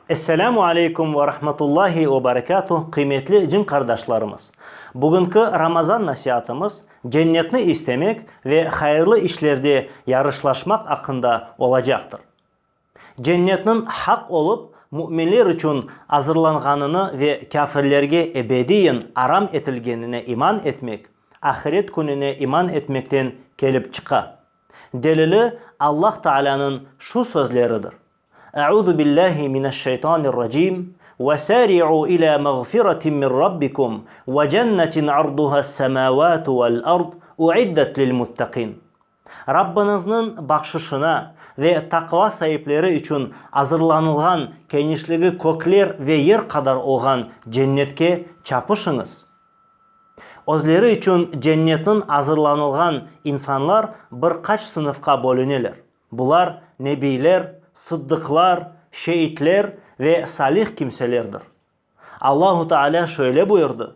Esselamu aleykum ve rahmetullahi ve berekatuh qıymetli cin qardaşlarımız! Bugünki Ramazan nasiatımız cennetni istemek ve hayırlı işlerde yarışlaşmaq aqqında olacaqtır. Cennetniñ haq olıp, müminler içün azırlanğanını ve kâfirlerge ebediyen aram etilgenine iman etmek, ahiret kününe iman etmekten kelip çıqa. Delili Allah Taalânıñ şu sözleridir, Euzu billâhi mineşşeytanirracim, Vesâri'u ilâ mağfiratin min Rabbikum ve cennetin arduhas-semâvâtu vel-ard, u'iddet lil-muttaqin. Rabbıñızniñ bahşışına ve taqva saipleri içün azırlanılğan kenişligi kökler ve yer qadar olğan Cennetke çapışıñız. Özleri içün Cennetniñ azırlanılğan insanlar bir qaç sınıfqa bölüneler, bular nebiyler, sıddıqlar, şeitler ve salih kimselerdir. Allahu Taalâ şöyle buyurdı,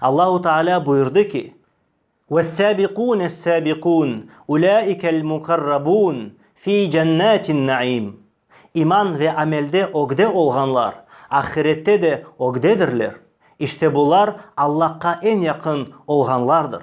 Allahu Taalâ buyurdı ki, Vessâbiqûnessâbiqûn ulâikelmuqarrabûn fî cennâtinnaîm, İman ve amelde ögde olğanlar ahirette de ögdedirler, işte bular Allahqa eñ yaqın olğanlardır.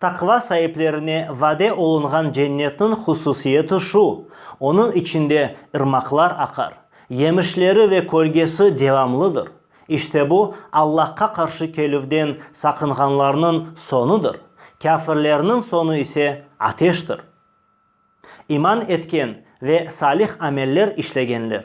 Taqva saiplerine vade olunğan Cennetniñ hususiyeti şu, onıñ içinde ırmaqlar aqar, yemişleri ve kölgesi devamlıdır. İşte bu, Allahqa qarşı kelüvden saqınğanlarnıñ soñudır, kâfirlerniñ soñu ise ateştir. İman etken ve salih ameller işlegenler.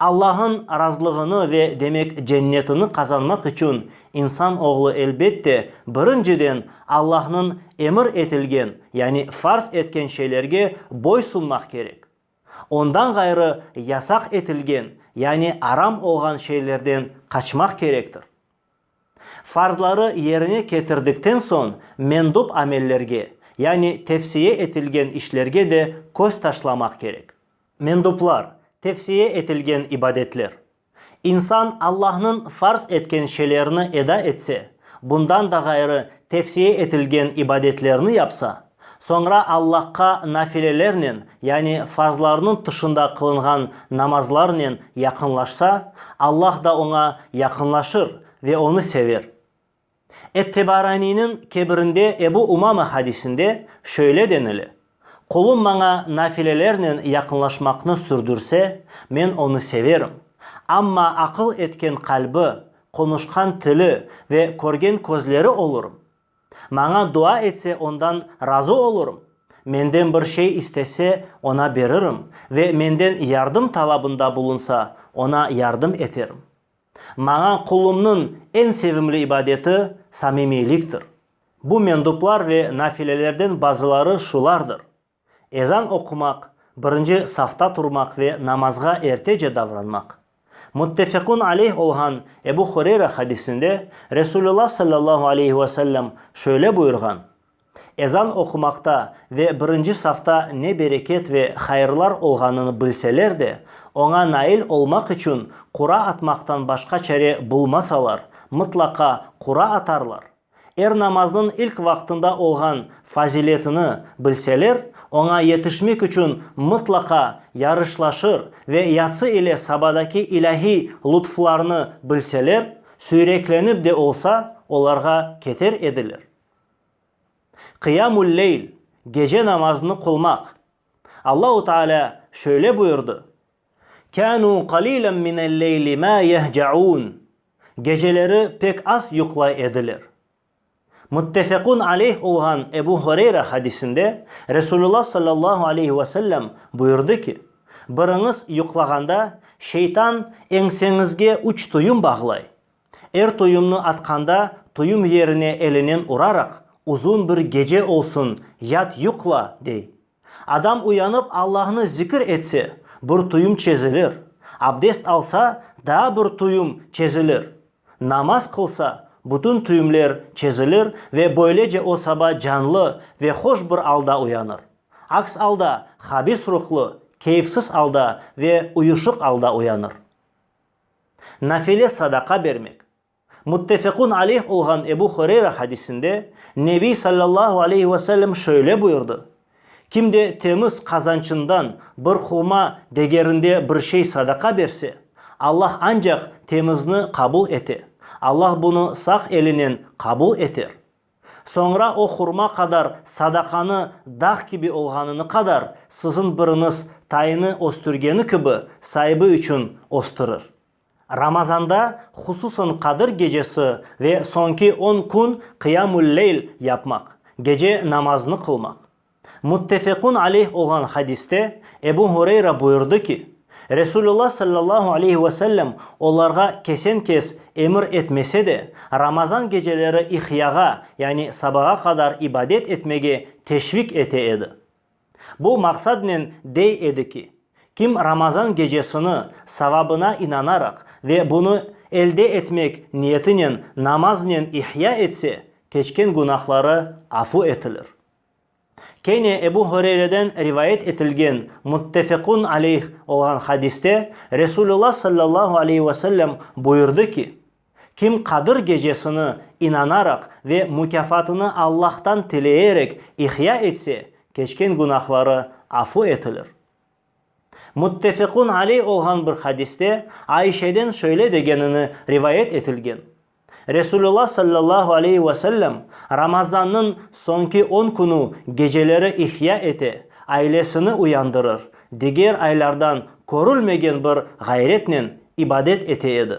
Allahnıñ razılığını ve demek cennetini qazanmaq içün insan oğlu elbette birinciden Allahnıñ emir etilgen, yani farz etken şeylerge boy sunmaq kerek. Ondan ğayrı yasaq etilgen, yani aram olğan şeylerden qaçmaq kerektir. Farzları yerine ketirdikten soñ mendub amellerge, yani tevsiye etilgen işlerge de köz taşlamaq kerek. Menduplar, tevsiye etilgen ibadetler. İnsan Allahnıñ farz etken şeylerini eda etse, bundan da ğayrı tevsiye etilgen ibadetlerni yapsa, soñra Allahqa nafilelernen, yani farzlarnıñ tışında qılınğan namazlarnen yaqınlaşsa, Allah da oña yaqınlaşır ve onı sever. Et-Tebaraniyniñ kebirinde Ebu Umama hadisinde şöyle denile, Qulum maña nafilelernen yaqınlaşmaqnı sürdürse, men onı severim. Amma aqıl etken qalbi, qonuşqan tili ve körgen közleri olurım. Maña dua etse ondan razı olurım, menden bir şey istese, oña beririm ve menden yardım talabında bulunsa, oña yardım eterim. Maña qulumnıñ eñ sevimli ibadeti samimiyliktir. Bu menduplar ve nafilelerden bazıları şulardır, ezan oqumaq, birinci safta turmaq ve namazğa ertece davranmaq. Muttefekun aleyh olğan Ebu Hureyra hadisinde Resulullah sallallahu aleyhi ve sellem şöyle buyurğan, Ezan oqumaqta ve birinci safta ne bereket ve hayırlar olğanını bilseler de, oña nail olmaq içün qura atmaqtan başqa çare bulmasalar, mıtlaqa qura atarlar. Er namaznıñ ilk vaqtında olğan faziletini bilseler, oña yetişmek içün mıtlaqa yarışlaşır ve yatsı ile sabadaki ilâhiy lutflarnı bilseler, süyreklenip de olsa, olarğa keter ediler. Qıyamul-leyl, gece namazını qılmaq. Allahu Teala şöyle buyurdı, Kânû qalîlen minel-leyli mâ yehca'ûn, Geceleri pek az yuqlay ediler. Muttefequn aleyh olğan Ebu Hureyre hadisinde Resulullah sallallahu aleyhi ve sellem buyurdı ki, Biriñiz yuqlağanda şeytan eñseñizge üç tuyum bağlay, Er toyumnı atqanda toyum yerine elinen uraraq, Uzun bir gece olsun, yat yuqla! dey. Adam uyanıp Allahnı zikir etse, bir toyum çezilir, abdest alsa, daa bir toyum çezilir, namaz qılsa, bütün toyumler çezilir ve böylece o saba canlı ve hoş bir alda uyanır. Aks alda, habis ruhlu, keyfsiz alda ve uyuşıq alda uyanır. Nafile sadaqa bermek. Muttefekun aleyh olğan Ebu Hureyra hadisinde Nebiy sallallahu aleyhi ve sellem şöyle buyurdı, Kim de temiz qazançından bir hurma degerinde bir şey sadaqa berse, Allah ancaq temizni qabul ete, Allah bunı sağ elinen qabul eter. Soñra o hurma qadar sadaqanı dağ kibi olğanını qadar, siziñ biriniz tayını östürgeni kibi, saibi içün östürir. Ramazanda, hususan Qadir gecesi ve soñki on kün qıyam-ül-leyl yapmaq, gece namazını qılmaq. Muttefekun aleyh olğan hadiste Ebu Hureyra buyurdı ki, Resulullah sallallahu aleyhi ve sellem olarğa kesen-kes emir etmese de, Ramazan geceleri ihyağa, yani sabağa qadar ibadet etmege teşvik ete edi. Bu maqsadnen dey edi ki, kim Ramazan gecesini savabına inanaraq ve bunı elde etmek niyetinen namaznen ihya etse, keçken günahları afu etilir. Kene Ebu Hureyreden rivayet etilgen muttefekun aleyh olğan hadiste Resulullah sallallahu aleyhi ve sellem buyurdı ki, Kim Qadır gecesini inanaraq ve mukâfatını Allahtan tileyerek ihya etse, keçken günahları afu etilir. Müttefiqun aley olğan bir hadiste Ayşeden şöyle degenini rivayet etilgen, Resulullah sallallahu aleyhi ve sellem Ramazannıñ soñki on künü geceleri ihya ete, ailesini uyandırır, diger aylardan körülmegen bir ğayretnen ibadet ete edi.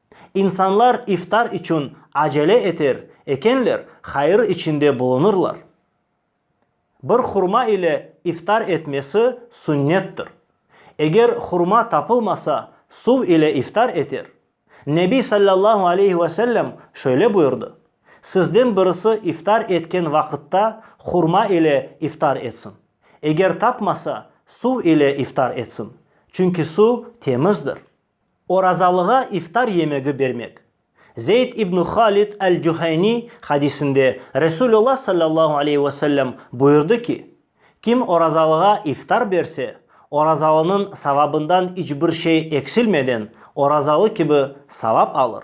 İnsanlar iftar içün acele eter ekenler, hayır içinde bulunırlar. Bir hurma ile iftar etmesi sünnettir. Eger hurma tapılmasa, suv ile iftar eter. Nebiy sallallahu aleyhi ve sellem şöyle buyurdı, Sizden birisi iftar etken vaqıtta hurma ile iftar etsin. Eger tapmasa, suv ile iftar etsin. Çünki suv temizdir. Orazalığa iftar yemegi bermek. Zeyd ibn Halid el-Cuheyni hadisinde Resulullah sallallahu aleyhi ve sellem buyurdı ki, Kim orazalığa iftar berse, orazalınıñ savabından iç bir şey eksilmeden, orazalı kibi savap alır.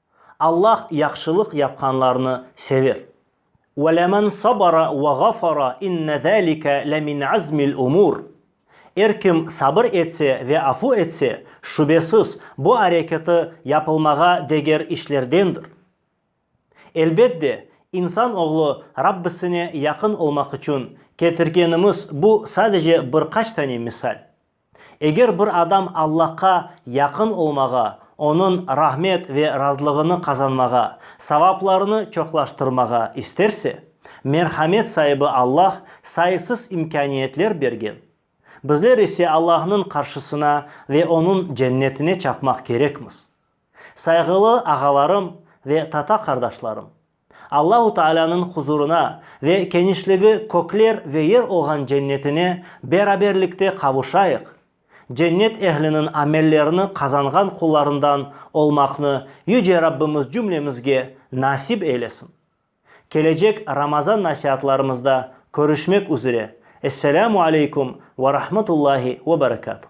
Allah yahşılıq yapqanlarnı sever. Ve lemen sabara ve ğafara inne zâlike le min azmil umur. Er kim sabır etse ve afu etse, şübesiz, bu areketi yapılmağa deger işlerdendir. Elbet de, insan oğlu Rabbisine yaqın olmaq içün ketirgenimiz bu sadece bir qaç tane misal. Eger bir adam Allahqa yaqın olmağa, Onıñ rahmet ve razılığını qazanmağa, savaplarını çoqlaştırmağa isterse, merhamet saibi Allah sayısız imkâniyetler bergen. Bizler ise Allahnıñ qarşısına ve Onıñ cennetine çapmaq kerekmiz. Sayğılı ağalarım ve tata qardaşlarım! Allahu Taalânıñ huzurına ve kenişligi kökler ve yer olğan cennetine beraberlikte qavuşayıq, cennet ehliniñ amellerini qazanğan qullarından olmaqnı Yüce Rabbimiz cümlemizge nasip eylesin. Kelecek Ramazan nasiatlarımızda körüşmek üzere. Esselamu aleykum ve rahmetullahi ve berekatuh.